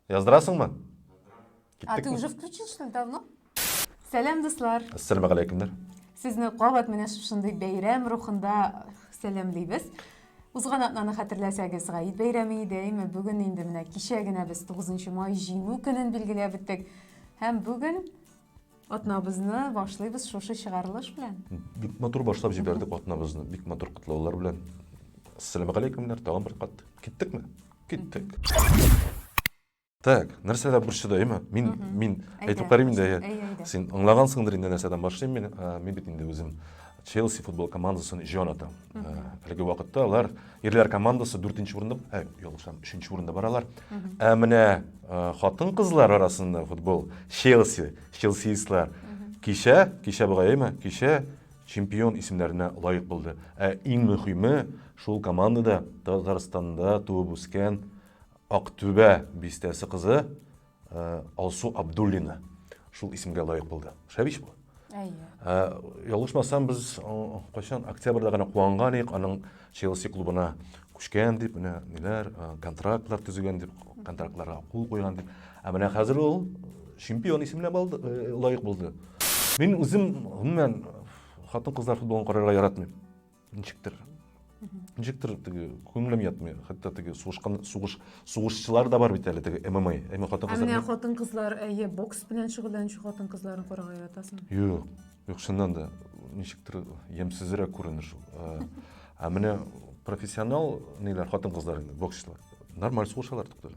Яздырасыңмы? А ты уже включил, что ли, давно? Сәләм, дуслар! Ассаламу алейкумдар! Сезне кабат менә шушындый бәйрәм рухында сәламлибез. Узган атнаны хәтерләсәгез, Гаид бәйрәме иде, әйме бүген инде менә кичә генә без 9 май җиңү көнен билгеләп үттек. Һәм бүген Атнабызны башлыйбыз шушы чыгарылыш белән. Бик матур башлап җибәрдек атнабызны. Бик матур котлаулар белән. Ассаламу алейкумнар, тагын бер кат. Киттекме? Киттек. Так, нәрсәдә борчыдаймы? Мин мин әйтеп карыйм инде. Син аңлагансыңдыр инде нәрсәдән башлыйм мин. Мин бит инде үзем Челси футбол командасын җоната. Әлеге вакытта алар ирләр командасы 4 урында, ә, ялгышам, 3 урында баралар. Ә менә хатын-кызлар арасында футбол Челси, челсиистлар кичә, кичә бугайымы, кичә чемпион исемнәренә лаек булды. Ә иң мөһиме, шул командада Татарстанда туып үскән Актүбә бистәсе кызы Алсу Абдуллина шул исемгә лаек булды. Шәбич бу. Әйе. Ялгышмасам, без кайчан октябрьдә генә куанган идек, аның Челси клубына күчкән дип, менә ниләр, контрактлар төзегән дип, контрактларга кул куйган дип. Ә менә хәзер ул чемпион исеменә балды, лаек булды. Мин үзем гомумән хатын-кызлар футболын карарга яратмыйм. ничектер ничектер теге күңелем ятмый хәтта теге сугышкан сугыш сугышчылар да бар бит әле теге мма әмма хатын кызлар әмма хатын кызлар әйе бокс белән шөгыльләнүче хатын кызларын карарга яратасың юк юк чыннан да ничектер ямьсезрәк күренә шул ә ә менә профессионал ниләр хатын кызлар инде боксчылар нормаль сугышалар туктале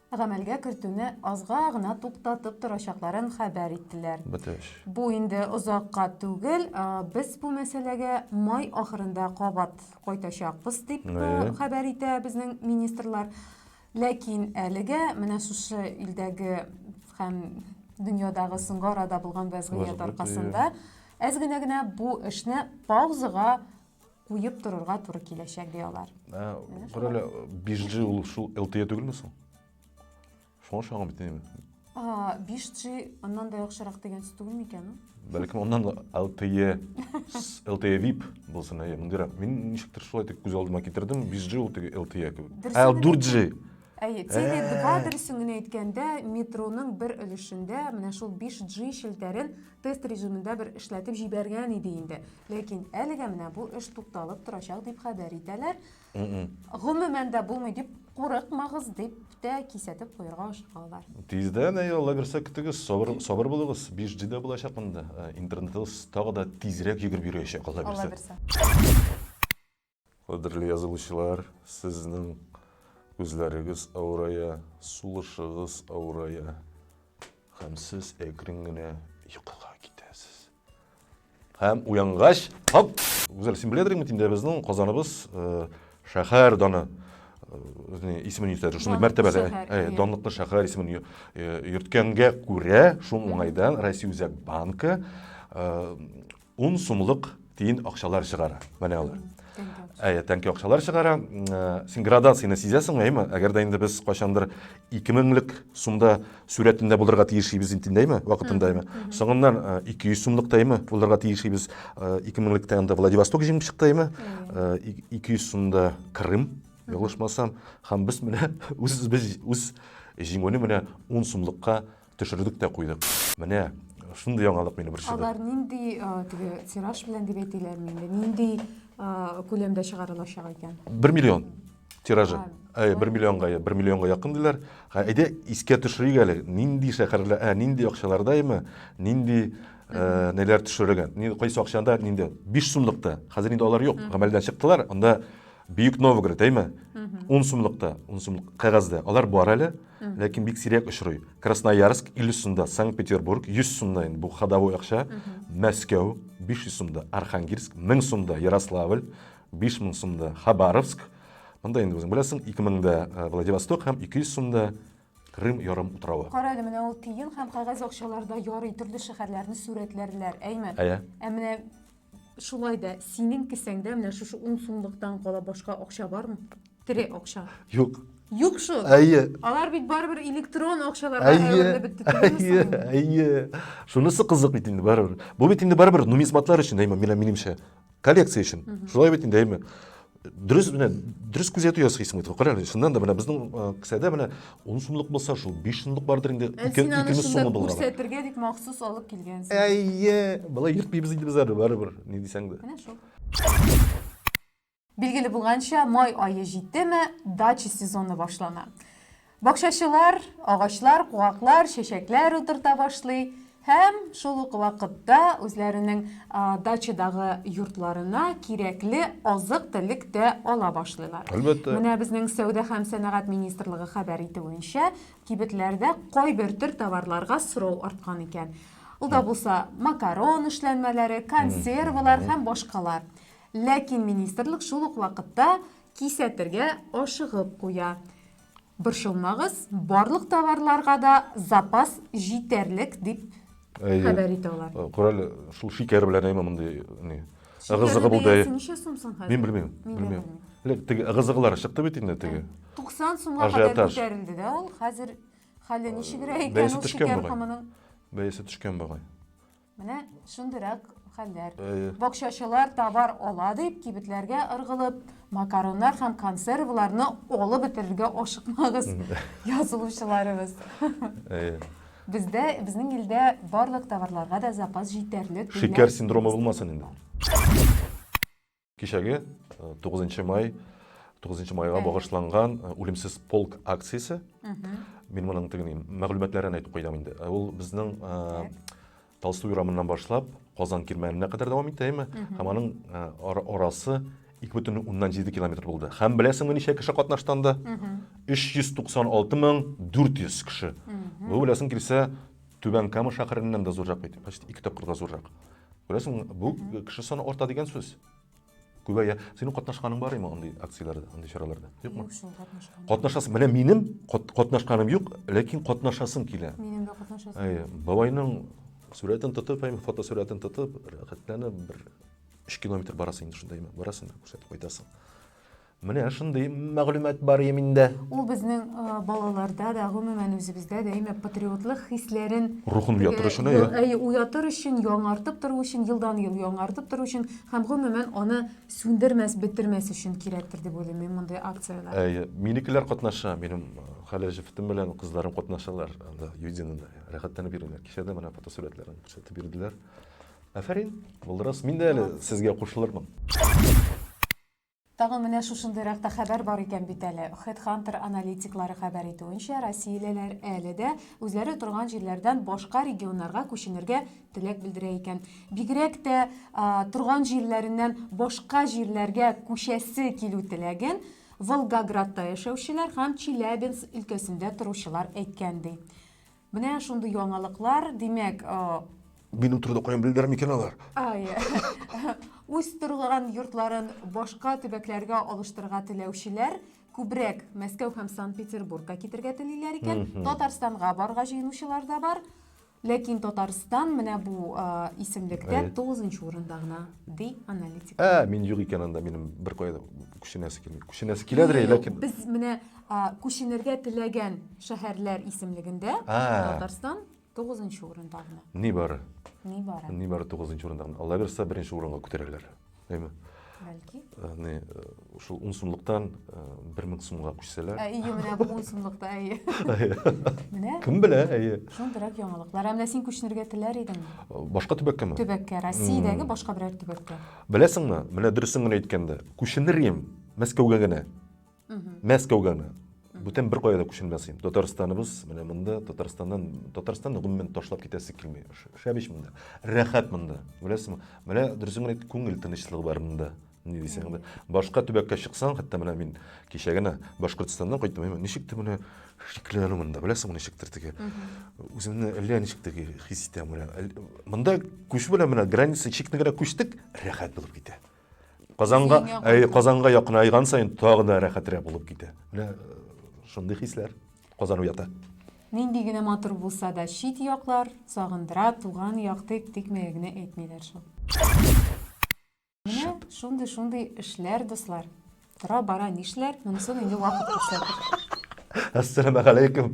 гамәлгә кертүне азга гына туктатып торачакларын хәбәр иттеләр. Бетеш. Бу инде озакка түгел, без бу мәсьәләгә май ахырында кабат кайтачакбыз, дип хәбәр итә безнең министрлар. Ләкин әлегә менә шушы илдәге һәм дөньядагы соңгы арада булган вәзгыять аркасында әз генә генә бу эшне паузага куеп торырга туры киләчәк, ди алар. Бер әле 5G ул шул LTE түгелме соң? Шуңа ошаган бит инде. 5G аннан да яхшырак дигән сүз түгелме икән? Бәлкем аннан да LTE, LTE VIP булсын, әйе, мондыйрак. Мин ничектер шулай итеп күз алдыма китердем, 5G ул теге LTE кебек. Ә 4G Әйе, Теле2 дөресен генә әйткәндә, метроның бер өлешендә менә шул 5G челтәрен Тест режимында бер эшләтеп җибәргән иде инде. Ләкин әлегә менә бу эш тукталып торачак дип хәбәр итәләр. Гомумән дә булмый дип курыкмагыз дип тә кисәтеп куярга ашыкалар. Тиздән, әй, Алла бирсә, көтегез, сабыр, сабыр булыгыз. 5G дә булачак монда. Интернетыбыз тагы да тизрәк йөгереп йөриячәк, Алла бирсә. Алла бирсә. Кадерле язылучылар, сезнең күзләрегез авырая, сулышыгыз авырая һәм сез әкрен генә йокыга китәсез. Һәм уянгач, хоп! Гүзәл, син беләдер инде инде безнең Казаныбыз э, шәһәр даны э, исемен йөртәдер. Шундый мәртәбәле, э, данлыклы шәһәр исемен йөрткәнгә күрә, шул уңайдан Россия үзәк банкы Ун сумлык тиен акчалар чыгара. Менә алар. Әйе, тәнки акчалар чыгара. Э, син градацияне сизәсең, әйме? Әгәр дә инде без кайчандыр 2000лек сумда сүрәтендә булырга тиешибез инде, әйме? Вакытында, әйме? Соңыннан 200 э, сумлык тайме булырга тиешибез. 2000лектә э, анда Владивосток җиңеп чыкты, әйме? 200 сумда Крым, ялгышмасам, һәм без менә үз үз җиңүне менә 10 сумлыкка Төшердек тә куйдык. Менә шундый яңалык мине борчыды. Алар нинди теге тираж белән дип әйтиләрме инде? Нинди күләмдә чыгарылачак икән? 1 миллион тиражы. Әй, 1 миллионга, 1 миллионга якын диләр. Әйдә, искә төшерик әле, нинди шәһәрлә, ә нинди акчаларда име, нинди Э, неләр төшерелгән ни кайсы акчада нинди биш сумлыкта хәзер инде алар юк гамәлдән чыктылар анда бөек новгород әйме ун сумлыкта ун сумлык кәгазьдә алар бар әле ләкин бик сирәк очрый красноярск 50 сумда санкт петербург 100 сумда инде бу ходовой акча мәскәү 500 сумда архангельск 1000 сумда ярославль 5000 сумда хабаровск монда инде үзең беләсең 2000 да э, владивосток һәм 200 сумда Крым ярым утравы. Кара әле менә ул тиен һәм кәгазь акчаларда ярый төрле шәһәрләрне сурәтләрләр, әйме? Әйе. Ә менә Шулай да синең кесәңдә менә шушы ун сумлыктан кала башка акча бармы? Тере акча. Юк. Юк шул. Әйе. Алар бит барыбер электрон акчаларга әверелеп бетте. Әйе, әйе. Шунысы кызык бит инде барыбер. Бу бит инде барыбер нумизматлар өчен, әйме, минемчә. Коллекция өчен. Шулай бит инде, әйме. дөрес менә дөрес күзәтү ясыйсың бит кара әле чыннан да менә безнең э, кесәдә менә он сумлык булса шул биш сумлык бардыр инде ә ике икемез сумлы булган күрсәтергә дип махсус алып килгәнсең әйе былай ертмыйбыз инде без әле барыбер ни дисәң дә менә шул билгеле булганча май ае җиттеме дача сезоны башлана Бакчачылар агачлар, куаклар, чәчәкләр утырта башлый һәм шул ук вакытта үзләренең дачадагы йортларына кирәкле азык-төлек тә ала башлыйлар. Әлбәттә. Менә безнең Сәүдә һәм сәнәгать министрлыгы хәбәр итүенчә, кибетләрдә кайбер төр товарларга сорау арткан икән. Ул да булса макарон эшләнмәләре, консервалар һәм башкалар. Ләкин министрлык шул ук вакытта кисәтергә ашыгып куя. Борчылмагыз, барлык товарларга да запас җитәрлек, дип хәбәр итә алар. Кораль, шул шикәр белән әйме мондый ни? Ыгызыгы булды. Мин белмим, белмим. Элек теге ыгызыгылар чыкты бит инде теге. 90 сумга кадәр күтәрелде дә ул. Хәзер хәле ничегрәк икән ул шикәр комының? Бәясе төшкән бугай. Менә шундыйрак хәлләр. Әйе. Бакчачылар товар ала дип, кибетләргә ыргылып, макароннар һәм консерваларны алып бетерергә ашыкмагыз, язылучыларыбыз. Әйе. Бездә, безнең илдә барлык товарларга да запас җитәрлек. Шикәр синдромы булмасын инде. Кичәге 9 май 9 майга багышланган үлемсез полк акциясе. Мин моның тегени мәгълүматларын әйтеп куйдым инде. Ул безнең Толстой урамыннан башлап Казан кирмәненә кадәр дәвам итә, әйме? Һәм аның арасы 2,7 километр булды. Һәм беләсеңме ничә кеше катнашты анда? 396400 кеше. Бу беләсең килсә Түбән Кама шәһәреннән дә зуррак бит, почти ике тапкырга зуррак. Күрәсең, бу кеше саны арта дигән сүз. Күбәя. Синең катнашканың бар имы андый акцияләрдә, андый чараларда? Юкмы? Катнашасың. Менә минем катнашканым юк, ләкин катнашасым килә. Минем дә катнашасым. Әйе, бабайның сурәтен тотып, әйме фотосурәтен тотып, рәхәтләнеп бер 3 километр барасың инде шунда, әйме, барасың да күрсәтеп кайтасың. Менә шундый мәгълүмат бар иде миндә. Ул безнең балаларда да, гомумән үзебездә дә именно патриотлык хисләрен рухын уятыр өчен, әйе, уятыр өчен, яңартып тору өчен, елдан-ел яңартып тору өчен һәм гомумән аны сүндермәс, бетермәс өчен кирәктер дип уйлыйм мин мондый акцияләр. Әйе, минекеләр катнаша, минем хәле җефетем белән кызларым катнашалар анда Юдинада. Рәхәтләнеп йөриләр. Кичә дә менә фотосурәтләрен күрсәтеп бирделәр. Афәрин, булдырасыз. Мин дә әле сезгә кушылырмын. Тагын менә шушындыйрак та хәбәр бар икән бит әле. Хедхантер аналитиклары хәбәр итүенчә, россиялеләр әле дә үзләре торган җирләрдән башка регионнарга күченергә теләк белдерә икән. Бигрәк тә торган җирләреннән башка җирләргә күчәсе килү теләген Волгоградта яшәүчеләр һәм Челябинск өлкәсендә торучылар әйткән, ди. Менә шундый яңалыклар, димәк, Минем турыда каян белдер микән алар? Ай. Үз торган йортларын башка төбәкләргә алыштырга теләүчеләр күбрәк Мәскәү һәм Санкт-Петербургка китергә телиләр икән. Татарстанга барга җыенучылар да бар. Ләкин Татарстан менә бу а, исемлектә Әйе. тугызынчы урында гына, ди аналитик. Ә, мин юк икән анда, минем бер кая да күченәсе килми. Күченәсе киләдер, ләкин Без менә А, Күченергә теләгән шәһәрләр исемлегендә А. Татарстан тугызынчы урында гына. Нибары. Нибары. Нибары тугызынчы урында гына. Алла бирса, беренче урынга күтәрерләр. Әйме? Бәлки. Әне, э, шул ун сумлыктан э, бер мең сумга күчсәләр. Ә, Ие, менә бу ун сумлыкта, әйе. Менә Кем белә, әйе. шундыйрак яңалыклар. Ә менә син күченергә теләр идеңме? Башка төбәккәме? Төбәккә, Россиядәге башка берәр төбәккә. Беләсеңме, менә дөресен генә әйткәндә, күченер идем Мәскәүгә генә. мәскәүгә менә бүтән беркая да күченмәсем татарстаныбыз менә монда татарстаннан татарстанны гомумән ташлап китәсе килми шәп ич монда рәхәт монда беләсеңме менә дөресен генә күңел тынычлыгы бар монда не дисең анда башка төбәккә чыксаң хәтта менә мин кичә генә башкортстаннан кайттым ничектер менә шикләнү монда беләсеңме ничектер теге үземне әллә ничек теге хис итәм менә монда күчү белән менә граница чикне генә күчтек рәхәт булып китә Казанга, Казанга якынайган саен тагы да рәхәтрәк булып китә. Менә шундый хисләр Казан уята. Нинди генә матур булса да чит яклар сагындыра, туган як дип тикмәгә генә әйтмиләр шул. Менә шундый шундый эшләр, дуслар. Тора бара нишләр, монысын инде вакыт күрсәтер. Ассаламу алейкум.